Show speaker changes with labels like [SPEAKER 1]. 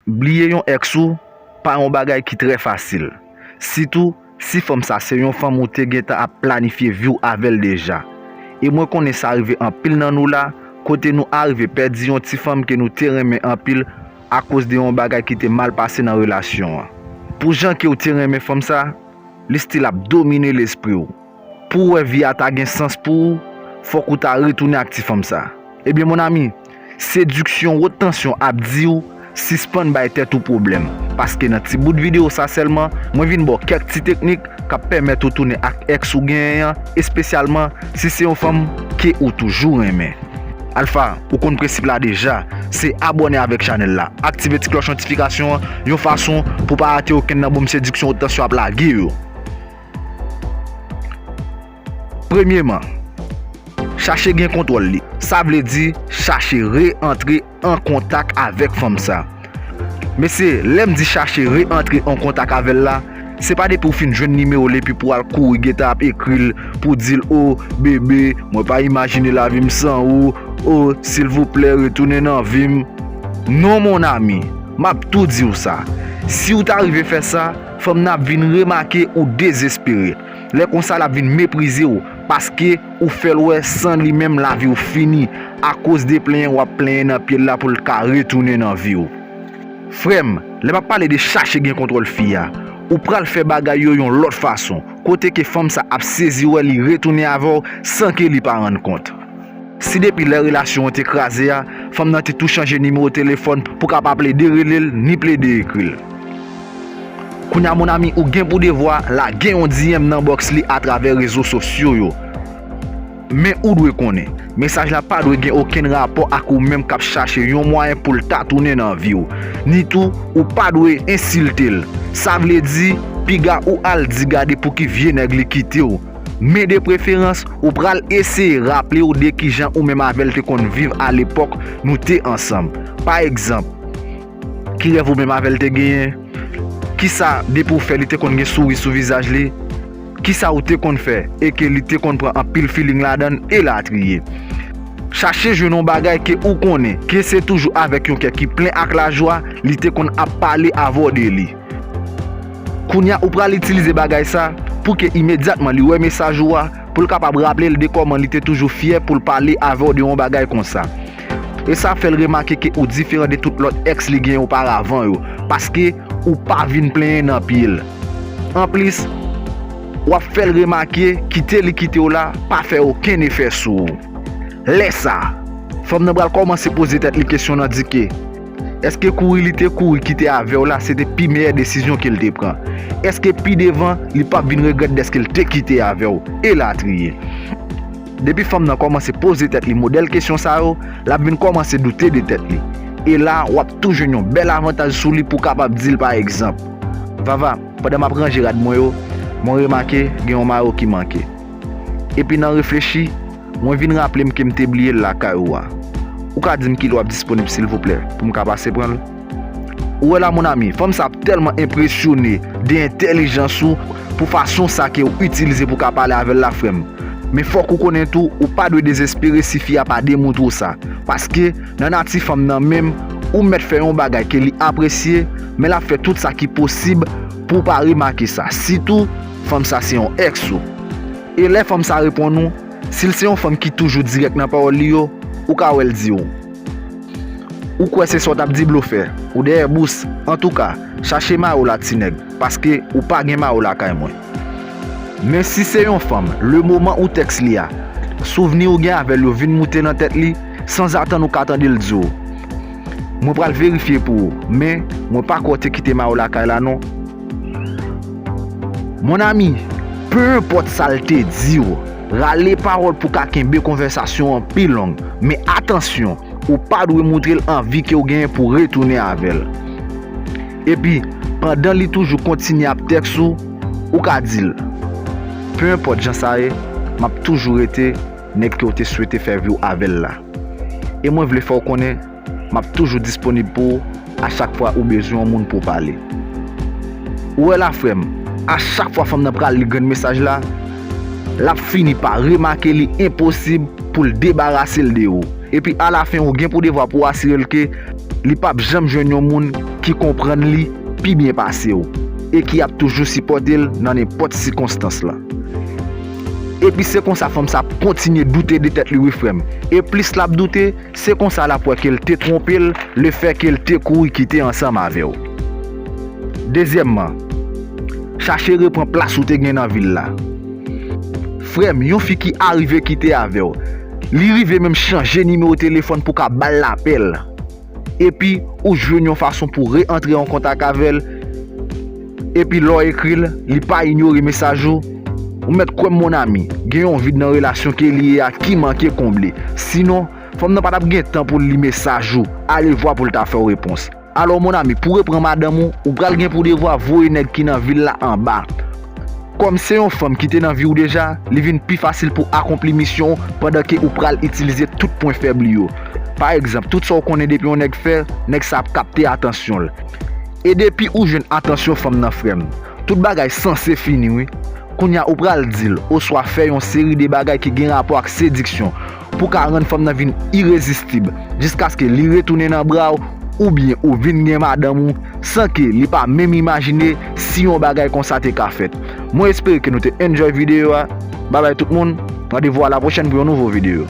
[SPEAKER 1] Bliye yon ex ou pa yon bagay ki trè fasil, sitou si fanm sa se yon fanm ou te gentan ap planifye viw avèl deja. E mwen konnen sa rive anpil nan nou la kote nou arive pèdi yon ti fanm ke nou te renmen anpil akoz de yon bagay ki te mal pase nan relasyon an. Pou jan kew te renmen fanm sa, li stil ap domine lespriw. Pou w wè vi a ta gen sans pou ou, fòk ou ta retounen ak ti fanm sa. Ebyen mon ami, sediksyon wot tansyon ap di w sispann bay tèt ou pwoblèm, paske nan ti bout videyo sa sèlman, mwen vin ba w kèk ti teknik k ap pèmèt ou tounen ak èks ou genyen an, espesyalman si se yon fanm ke ou toujou renmen. Alpha, ou konn prensip la deja, se abòne avèk chanèl la, aktive ti klòch notifikasyon an yon fason pou w pa rate okenn nan bonm sediksyon wot tansyon ap lage yo. Premyeman, chache gen kontwòl li. Sa vle di chache re antre an kontak avèk fanm sa. Mesye, lè m di chache re antre an kontak avè l la, se pa depi ou fin jwenn nimewo l epi pou al kouri gentan ap ekri l pou di l o, bebe, mwen pa imajine lavi m san ou, o, silvouplè retounen nan vi m. Non mon ami, m ap tou di w sa, si w ta rive fè sa, Fanm nan ap vin remake ou dezespere. Lè konsa l ap vin meprize w paske ou fè l wè san li menm lavi w fini akoz de plenyen w ap plenyen nan pye l la pou l ka retounen nan vi w. Frè m, lè m ap pale de chache gen kontwòl fi a, ou pral fè bagay yo yon lòt fason, kote ke fanm sa ap sezi wè li retounen avè w san ke li pa rann kont. Si depi lè relasyon an te kraze a, fanm nan te tou chanje nimewo telefòn pou ka pa plede rele l ni plede ekri l. Kounye a mon ami ou gen pou devwa lage yon DM nan box li atravè rezo sosyo yo. Men ou dwe konnen, mesaj la pa dwe gen okenn rapò ak ou menm k ap chache yon mwayen pou l ta tounen nan vi w. Ni tou ou pa dwe ensilte l. Sa vle di, piga ou al di gade pouki vye nèg li kite w. Men de preferans, ou pral eseye raple ou de kijan ou menm avè l te konn viv alepòk nou te ansanm. Pa egzanp, ki rèv ou menm avè l te genyen? Kisa depi ou fè li te konn gen souri sou vizaj li? Kisa ou te konn fè e ke li te konn pran anpil feeling ladan l? Elatriye. Chache jwenn yon bagay ke ou konnen ke se toujou avèk yon kè ki plen ak lajwa li te konn ap pale avè w de li. Kounya ou pral itilize bagay sa pou ke imedyatman li wè mesaj ou a pou l kapab raple l de kòman li te toujou fyè pou l pale avè w de yon bagay konsa. E sa ap fè l remake ke ou diferan de tout lòt ex li genyen oparavan yo paske ou pa vin plenyen nan pye l. Anplis, w ap fè l remake kite li kite w la pa fè okenn efè sou ou. Lè sa, fanm nan pral kòmanse poze tèt li kesyon nan di ke. Èske kouri li te kouri kite avè w la se te pi meyè desizyon ke l te pran? Èske pi devan li p ap vin regrèt dèske l te kite avè w? Elatriye. Depi fanm nan kòmanse poze tèt li modèl kesyon sa yo, l ap vin kòmanse doute de tèt li. E la, w ap tou jwenn yon bèl avantaj sou li pou w kapab di l pa egzanp, Vava, pandan m ap ranje rad mwen yo, mwen remake gen yon mayo ki manke. Epi nan reflechi, mwen vin raple m ke m te bliye l lakay ou a. Ou ka di m ki lè w ap disponib silvouplè pou m ka pase pran l? Ou wè la mon ami, fanm sa ap tèlman enpresyone de entèlijans ou pou fason sa ke w itilize pou w ka pale avè l la frè m. Men fòk ou konnen tou ou pa dwe dezespere si fi a pa demontre w sa. Paske nan nati fanm nan menm, ou mèt fè yon bagay ke li apresye, men l ap fè tout sa ki posib pou w pa remake sa. Sitou. fanm sa se yon ex ou. E lè fanm sa reponn ou, si l se yon fanm ki toujou dirèk nan pawòl li yo, ou ka wè l di ou. Ou kwè se sa w t ap di blofè, ou dèyè bous, antouka, chache mari w la ti nèg, paske ou pa gen mari w lakay mwen. Men si se yon fanm, lemoman ou tèks li a, souvni ou gen avè l yo vin moute nan tèt li, sanzatann ou ka tande l di ou, Mwen pral verifye pou ou, men, mwen pa kwè w te kite mari w lakay la non. Mon ami, peu enpòt sa l te di w, rale pawòl pou w ka kenbe konvèsasyon an pi long. Men atansyon, ou pa dwe moutre l anvi ke w genyen pou w retounen avè l. Epi, pandan li toujou kontinye ap tèks ou, ou ka di l, Peu enpòt jan sa ye, m ap toujou rete nèg ke w te swete fè vi w avè l la. E mwen vle fè w konnen Map toujou disponib pou ou a chak fwa ou bezwen yon moun pou w pale. Ou wè la frè m, a chak fwa fanm nan pral li grenn mesaj la, lap fini pa remake li enposib pou l debarase l de ou. Epi a la fen ou gen pou devwa pou w asire l ke li pap janm jwenn yon moun ki konprann li pi byen pase w e ki ap toujou sipòte l nan nenpòt sikonstans la. Epi se konsa fanm sa ap kontinye doute de tèt li wi frè m. E plis lap doute, Se konsa l ap wè ke l te twonpe l lefèke l te kouri kite ansanm avè w. Dezyèmman, chache repran plas ou te gen nan vil la. Frè m, yon fi ki arive kite avè w, li rive menm chanje nimewo telefòn pou w ka ba l lapèl, epi ou jwenn yon fason pou re-antre an kontak avè l, Epi lè w ekri l, li pa inyore mesaj ou? Ou mèt kwè m mon ami, gen yon vid nan relasyon ke li ye a ki manke konble. Sinon, fanm nan pa t ap gen tan pou l li mesaj ou, alevwa pou l ta fè w repons. Alò mon ami, pou repran madanm ou, ou pral gen pou devwa voye nèg ki nan vi l la anba. Kòm se yon fanm ki te nan vi w deja, li vin pi fasil pou akonpli misyon w pandan ke ou pral itilize tout pwen fèb li yo. Pa egzanp, tout sa w konnen depi yon nèg fè, nèg sa ap kapte atansyon l. E depi ou jwenn atansyon fanm nan frèm, tout bagay sanse fini wi. Kounya ou pral di l oswa fè yon seri de bagay ki gen rapò ak sediksyon pou w ka rann fanm nan vin irezistib jiskaske li retounen nan bra w oubyen ou vin gen madanm ou san ke li pa menm imajine si yon bagay konsa te ka fèt. Mwen espere ke nou te enjoy videyo a. Babay tout moun, randevou a la pwochèn pou yon nouvo videyo.